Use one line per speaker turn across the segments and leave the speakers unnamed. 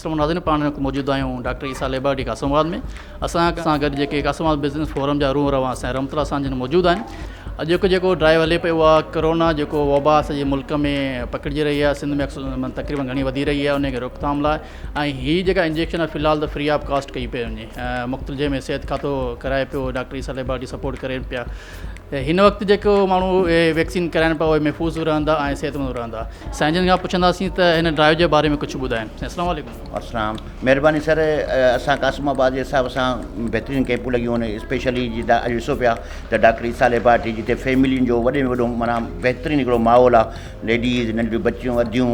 اسلم ناظرين پاڻ هن وقت موجود آهيون doctor Essa laboratory Qasimabad ۾ اسان سان گڏ جيڪي قاسم آباد بزنس فورم جا روح روا سائين رحمت الله سان جن موجود آهن اڄوڪو جيڪو ڊرائيو هلي پيو آهي ڪرونا جيڪو وبا سڄي ملڪ ۾ پکڙجي رهي آهي سنڌ ۾ تقريبا گهڻي وڌي رهي آهي ان کي روڪٿام لاء ۽ هي جيڪا انجيڪشن آهي في الحال ته فري آف ڪاسٽ ڪئي پئي وڃي مختلف جنهن ۾ صحت کاتو ڪرائي پيو ڊاڪٽر عيسيٰ ليبارٽي سپورٽ ڪرين پيا هن وقت جيڪو ماڻهو ويڪسين ڪرائن پيا اهي محفوظ به رهندا ۽ صحتمند به رهندا سائين جن کان پڇنداسين ته هن ڊرائيو جي باري ۾ ڪجهه ٻڌائين سائين السلام عليڪم. السلام مهرباني
سر اسان قاسم آباد جي حساب سان بهترين ڪيمپون لڳيون آهن اسپيشلي جي اڄ ڏسو پيا ته ڊاڪٽر عيسيٰ ليبارٽري جتي فيملين جو وڏي وڏو مانا بهترين هڪڙو ماحول آهي ليڊيز ننڍيون بچيون اديون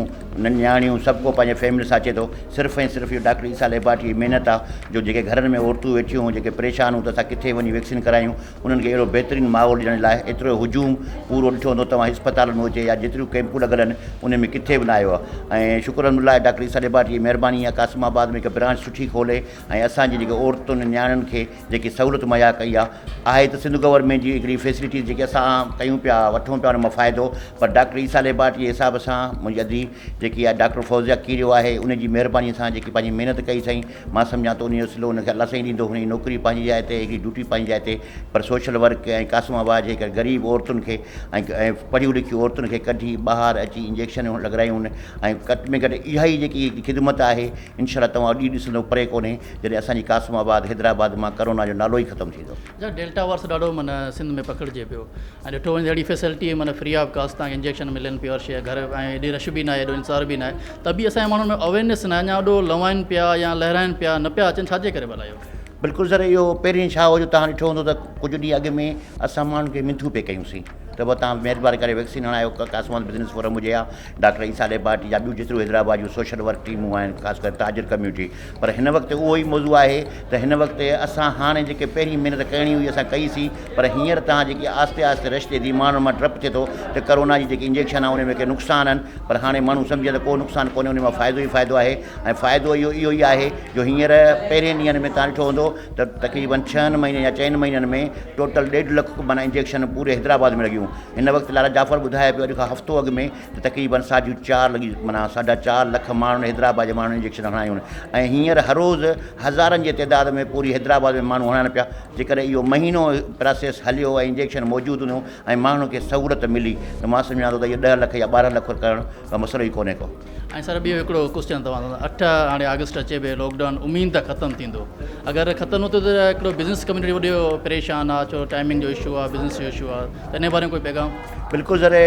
نياڻيون سڀ ڪو پنهنجي فيملي سان اچي ٿو صرف ۽ صرف اهو ڊاڪٽر عيسيٰ ليبارٽري جي محنت آهي جو جيڪي گهرن ۾ عورتون ويٺيون هو جيڪي پريشان هو ته اسان ڪٿي وڃي ويڪسين ڪرايون انهن کي اهڙو بهترين ماحول ڏيڻ لاء ايترو هجوم پورو ڏٺو هوندو توهان اسپتالن ۾ هجي يا جيتريون ڪئمپون لڳل آهن انهن ۾ ڪٿي به نه آيو آهي ۽ شڪر الحمد لله آهي ڊاڪٽر عيسيٰ ڏيباري جي مهرباني آهي قاسم آباد ۾ هڪ برانچ سٺي کولي ۽ اسان جي جيڪي عورتن نياڻين کي جيڪي سهولت مهيا ڪئي آهي آهي ته سنڌ گورنمينٽ جي هڪڙي فيسلٽيز جيڪي اسان ڪيون پيا وٺون پيا ان مان فائدو پر ڊاڪٽر عيسيٰ ڏيباري جي حساب سان منهنجي ادي جيڪي آهي ڊاڪٽر فوزيا کيريو آهي ان جي مهرباني سان جيڪي پنهنجي محنت ڪئي سائين مان سمجهان ٿو انهي جو صلو ان کي الله سائين ڏيندو هن جي نوڪري پنهنجي جاء تي هن جي ڊيوٽي پنهنجي جاء تي پر سوشل ورڪ ۽ قاسم آباد جي ڪن غريب عورتن کي ۽ پڙهيون لکيون عورتن کي ڪڍي ٻاهر اچي انجيڪشنون لڳرايون هن ۽ گهٽ ۾ گهٽ اها ئي جيڪي خدمت آهي انشاء الله توهان ڏينهن ڏسندو پري ڪونهي جڏهن اسان جي قاسم آباد حيدرآباد مان ڪرونا جو نالو ئي ختم ٿيندو جا ڊيلٽا وارس ڏاڍو
معنيٰ سنڌ ۾ پکڙجي پيو ۽ ڏٺو وڃي ته اهڙي فيسلٽي معنيٰ فري آف ڪاسٽ تان انجيڪشن ملن پيو هر شيء گهر ۽ ايڏي رش به ناهي ايڏو انتظار به ناهي ته به اسان جي ماڻهن ۾ اويرنيس ناهي اڃا اڏو لوائن پيا يا لهرائن پيا نه پيا اچن ڇاجي ڪري ڀلا اهو بلڪل سر اهو
پهرين ڇا هو جو تهان ڏٺو هوندو ته ڪجهه ڏينهن اڳ ۾ اسان ماڻهن کي منٿون پي ڪيون سين ته به توهان مهرباني ڪري ويڪسين هڻايو ڪاسمان بزنس فورم هجي يا ڊاڪٽر عيسيٰ ليبارٽري يا ٻيون جيتريون حيدرآباد جون سوشل ورڪ ٽيمون آهن خاص ڪري تاجر ڪميونٽي پر هن وقت اهو ئي موضوع آهي ته هن وقت اسان هاڻي جيڪي پهرين محنت ڪرڻي هئي اسان ڪئي سي پر هينئر توهان جيڪي آهستي آهستي رش ٿئي ٿي ماڻهن مان ڊپ ٿئي ٿو ته ڪرونا جي جيڪي انجيڪشن آهن ان ۾ ڪي نقصان آهن پر هاڻي ماڻهو سمجهي ته ڪو نقصان ڪونهي ان مان فائدو ئي فائدو آهي ۽ فائدو اهو اهو ئي آهي جو هينئر پهرين ڏينهن ۾ توهان ڏٺو هوندو ته تقريبن ڇهن مهينن يا چئن مهينن ۾ ٽوٽل ڏيڍ لک ڪبانا انجيڪشن پوري حيدرآباد ۾ لڳيون هن وقت لالا جعفر ٻڌايو پيو اڄ کان هفتو اڳ ۾ ته تقريبن ساڍيون چار لڳي معنيٰ ساڍا چار لک ماڻهن حيدرآباد جي ماڻهن انجيڪشن هڻايون ۽ هينئر هر روز هزارن جي تعداد ۾ پوري حيدرآباد ۾ ماڻهو هڻائن پيا جيڪڏهن اهو مهينو پراسيس هليو ۽ انجيڪشن موجود هونديون ۽ ماڻهن کي سهولت ملي ته مان سمجهان ٿو ته اهي ڏهه لک يا ٻارهن لک ڪرڻ ڪو مسئلو ئي ڪونهي ڪو ۽ سر ٻيو هڪڙو
ڪوسچن توهان سان اٺ هاڻي آگسٽ اچي پئي لوڪ ڊائون امين ته ختم ٿيندو اگر ختم نٿو ٿئي ته هڪڙو بزنس ڪميونٽي وڏو پريشان آ ڇو ٽائمنگ جو اشو آ بزنس جو اشو آ ته انهي باري ۾ ڪوئي پيغام بلڪل سر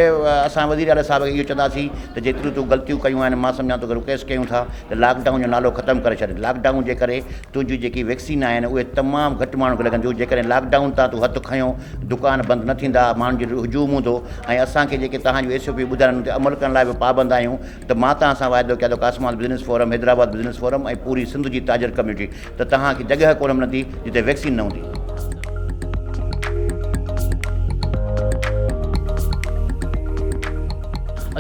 اسان وزير اعليٰ صاحب کي اهو چوندا سين ته جيتريون تون غلطيون ڪيون آهن مان سمجهان ٿو ته رڪيس ڪيون ٿا ته لاڪ ڊائون جو نالو ختم ڪري ڇڏ لاڪ ڊائون جي ڪري تنهنجون جيڪي ويڪسين آهن اهي تمام گهٽ ماڻهن کي لڳنديون جيڪڏهن لاڪ ڊائون تان تون هٿ کنيو دڪان بند نه ٿيندا ماڻهن جو هجوم هوندو ۽ اسان کي جيڪي توهان جون ايس او پي ٻڌايون انهن تي عمل ڪرڻ لاء به پابند آهيون ته مان توهان سان واعدو ڪيا ٿو ڪاسمال business forum Hyderabad business forum ۽ پوري سنڌ جي تاجر ڪميونٽي ته توهان کي جڳهه ڪونه ملندي جتي ويڪسين نه هوندي.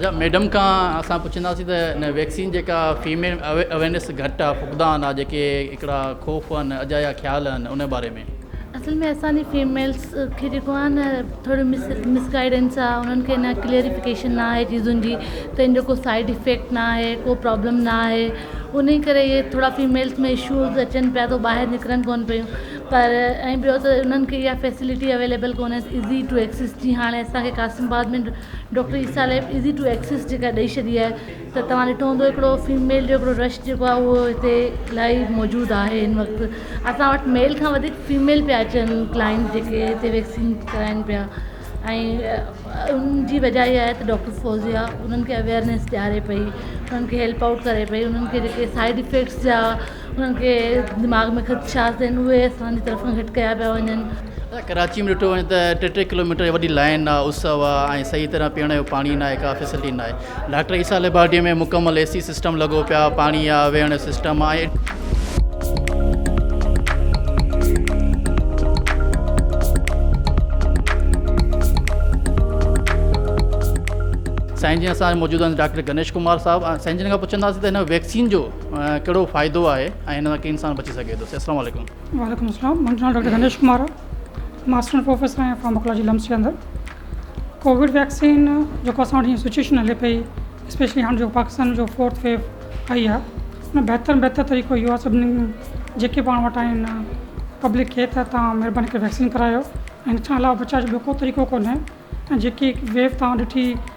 اچا ميڊم کان اسان پڇنداسين ته هن ويڪسين جيڪا
فيميل اويرنيس گهٽا، فقدان، آ جيڪي هڪڙا خوف هن، اجايا خيال هن، ان باري ۾. اصل ۾ اسان جي
فيميلس کي جيڪو آ نه ٿوري مس مس گائيڊنس آ انهن کي نه ڪليئريفڪيشن نه آهي چيزن جي ته ان جو ڪو سائيڊ افيڪٽ نه آهي ڪو پرابلم نه آهي انهي ڪري اهي ٿورا فيميلس ۾ اشوز اچن پيا ته ٻاهر نڪرن ڪون پيون پر ۽ ٻيو ته انهن کي اها فيسلٽي اويليبل ڪونهي ايزي ٽو ايڪسس جي هاڻي اسان کي Qasimabad ۾ doctor Essa lab easy to access جيڪا ڏئي ڇڏي آهي ته توهان ڏٺو هوندو هڪڙو فيميل جو هڪڙو رش جيڪو آهي اهو هتي الاهي موجود آهي هن وقت اسان وٽ ميل کان وڌيڪ فيميل پيا اچن ڪلائنٽ جيڪي هتي ويڪسين ڪرائن پيا ۽ ان جي وجه اها آهي ته ڊاڪٽر فوزيا انهن کي اويئرنيس ڏياري پئي انهن کي هيلپ آئوٽ ڪري پئي انهن کي جيڪي سائيڊ افيڪٽس جا انهن کي دماغ ۾ خدشات آهن اهي اسان جي طرفان گهٽ ڪيا پيا وڃن. ڪراچي ۾ ڏٺو وڃي ته
ٽي ٽي ڪلوميٽر جي وڏي لائين آهي اس آهي ۽ صحيح طرح پيئڻ جو پاڻي ناهي ڪا فيسلٽي ناهي ڊاڪٽر عيسيٰ ليبارٽري ۾ مڪمل اي سي سسٽم لڳو پيو آهي پاڻي آهي ويهڻ جو سسٽم آهي. سائين جن اسان موجود آهن ڊاڪٽر گنيش ڪمار صاحب سائين جن کان پڇنداسين ته هن ويڪسين جو. ڪهڙو فائدو آهي ۽ هن سان ڪيئن انسان بچي سگهي ٿو السلام عليڪم. وعليڪم السلام منهنجو
نالو ڊاڪٽر دنيش ڪمار آ مان اسسٽنٽ پروفيسر آهيان فارماڪولاجي لمس جي اندر ڪووڊ ويڪسين جيڪو اسان وٽ هي سچويشن هلي پئي اسپيشلي هاڻ جيڪو پاڪستان جو فورٿ ويو آئي آ ان بهتر ۾ بهتر طريقو اهو آ سڀني جيڪي پاڻ وٽ آهن پبلڪ کي ته تان مهرباني ڪري ويڪسين ڪرايو ان کان علاوه بچاء جو ٻيو ڪو طريقو ڪونهي ۽ جيڪي ويو تان ڏٺي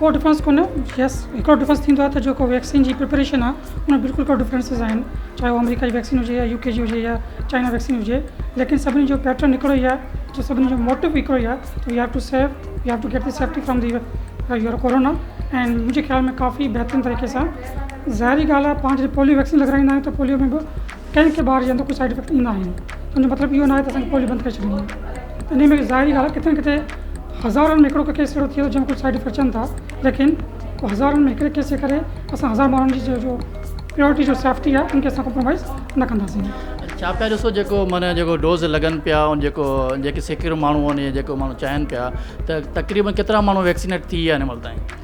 ڪو ڊفرنس ڪونه
يس هڪڙو ڊفرنس ٿيندو آهي ته جيڪو ويڪسين جي پريپريشن آهي ان ۾ بلڪل ڪو ڊفرنسز آهن چاهي هو آمريڪا جي ويڪسين هجي يا يو ڪي جي هجي يا چائنا ويڪسين هجي ليڪن سڀني جو پيٽرن هڪڙو ئي آهي جو سڀني جو موٽو به هڪڙو ئي آهي ته we have to safe we have to get the safety from the your corona ۽ منهنجي خيال ۾ ڪافي بهترين طريقي سان ظاهري ڳالهه آهي پانچ ڏينهن پوليو ويڪسين لڳرائيندا آهيون ته پوليو ۾ به ڪنهن کي ٻار جي اندر ڪو سائيڊ افيڪٽ ايندا آهن ان جو مطلب اهو ناهي ته اسان کي پوليو بند ڪري ڇڏيڻي آهي انهي ۾ ظاهري ڳالهه ڪٿي نه ڪٿي هزارن ۾ هڪڙو ڪو ڪيس اهڙو ٿئي ٿو جنهن ۾ ڪجهه سائيڊ افيڪٽ اچن ٿا ليڪن ڪو هزارن ۾ هڪڙي ڪيس جي ڪري اسان هزار ماڻهن جي جو پيورٽي جو سيفٽي آهي ان کي اسان ڪمپرومائز نه ڪنداسين ڇا پيا ڏسو
جيڪو معنيٰ جيڪو ڊوز لڳن پيا ان جيڪو جيڪي سيڪڙو ماڻهو آهن جيڪو ماڻهو چاهين پيا ته تقريبن ڪيترا ماڻهو ويڪسينيٽ ٿي ويا آهن هن مهل تائين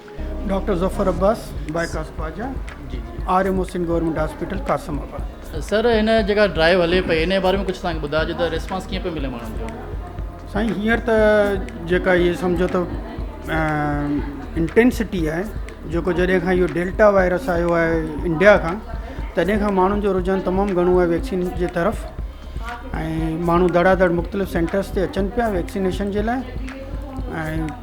doctor Zafar
Abbas bypass Khawaja جي G R M
Hussain government
hospital Qasimabad. Sir هن
جيڪا ڊرائيو هلي پئي ان جي باري ۾ ڪجهه اسان کي ٻڌائجو ته ريسپانس ڪيئن پيو ملي ماڻهن جو. سائين هينئر ته
جيڪا هي سمجهو ته انٽينسٽي آهي جيڪو جڏهن کان اهو ڊيلٽا وائرس آيو آهي انڊيا کان تڏهن کان ماڻهن جو رجحان تمام گهڻو آهي ويڪسين جي طرف ۽ ماڻهو دڙا دڙ مختلف سينٽرس تي اچن پيا ويڪسينيشن جي لاء ۽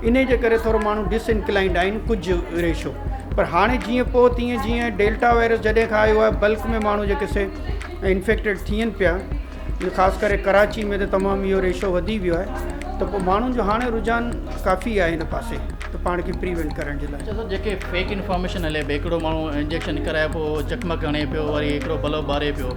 انهيء جي ڪري ٿورو ماڻهو ڊس انڪلائنڊ آهن ڪجهه ريشو پر هاڻي جيئن پوء تيئن جيئن ڊيلٽا وائرس جڏهن کان آيو آهي بلڪ ۾ ماڻهو جيڪي سي انفيڪٽيڊ ٿين پيا خاص ڪري ڪراچي ۾ ته تمام اهو ريشو وڌي ويو آهي ته پوء ماڻهن جو هاڻي رجحان ڪافي آهي هن پاسي ته پاڻ کي پريوينٽ ڪرڻ جي لاء جيڪي فيڪ
انفارميشن هلي پئي هڪڙو ماڻهو انجيڪشن ڪرائي پيو چقمق هڻي پيو وري هڪڙو بلب ٻاري پيو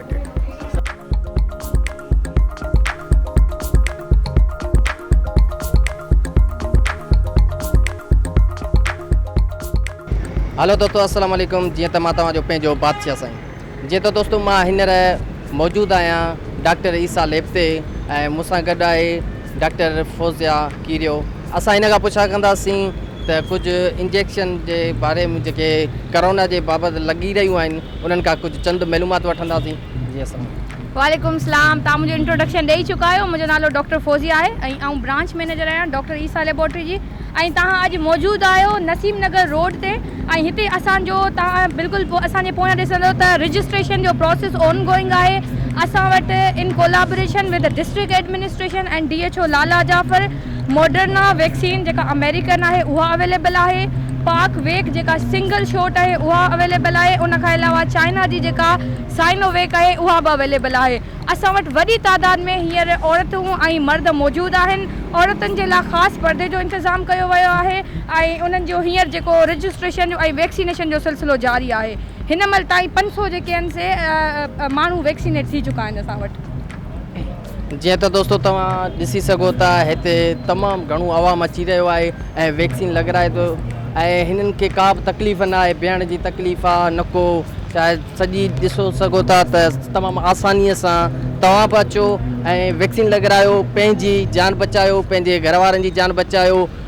هلو دوستو السلام عليڪم جيئن ته مان توهان جو پنهنجو بادشاهه سائين جيئن ته دوستو مان هينئر موجود آهيان ڊاڪٽر عيسيٰ ليب تي ۽ مون سان گڏ آهي ڊاڪٽر فوزيا کيريو اسان هن کان پڇا ڪنداسين ته ڪجهه انجيڪشن جي باري ۾ جيڪي ڪرونا جي بابت لڳي رهيون آهن انهن کان ڪجهه چند معلومات وٺنداسين جي اسلام. وعليڪم اسلام
توهان منهنجو انٽروڊڪشن ڏئي چڪا آهيو منهنجو نالو ڊاڪٽر فوزيه آهي ۽ آئون برانچ مينيجر آهيان ڊاڪٽر عيسيٰ ليبارٽري جي ۽ توهان اڄ موجود آهيو نسيم نگر روڊ تي ۽ هتي اسان جو توهان بلڪل اسان جي پويان ڏسندو ته رجسٽريشن جو پروسيس اون گوئنگ آهي اسان وٽ in collaboration with district administration and D H O Lala Jafar Moderna vaccine جيڪا آمريڪن آهي اها اويليبل آهي، پاڪ ويڪ جيڪا سنگل شوٽ آهي اها اويليبل آهي ان کان علاوه چائنا جي جيڪا سائنو ويڪ آهي اها به اويليبل آهي اسان وٽ وڏي تعداد ۾ هينئر عورتون ۽ مرد موجود آهن عورتن جي لاء خاص پردي جو انتظام ڪيو ويو آهي ۽ انهن جو هينئر جيڪو رجسٽريشن جو ۽ ويڪسينيشن جو سلسلو جاري آهي هن مهل تائين پنج سؤ جيڪي آهن سي ماڻهو ويڪسينيٽ ٿي چڪا آهن اسان وٽ.
جيئن ته دوستو توهان ڏسي سگهو ٿا هتي تمام گهڻو عوام اچي رهيو آهي ۽ ويڪسين لڳرائي ٿو ۽ هنن کي ڪا به تڪليف نه آهي بيهڻ جي تڪليف آهي نه ڪو شايد سڄي ڏسو سگهو ٿا ته تمام آسانيء سان توهان به اچو ۽ ويڪسين لڳرايو پنهنجي جان بچايو پنهنجي گهر وارن جي جان بچايو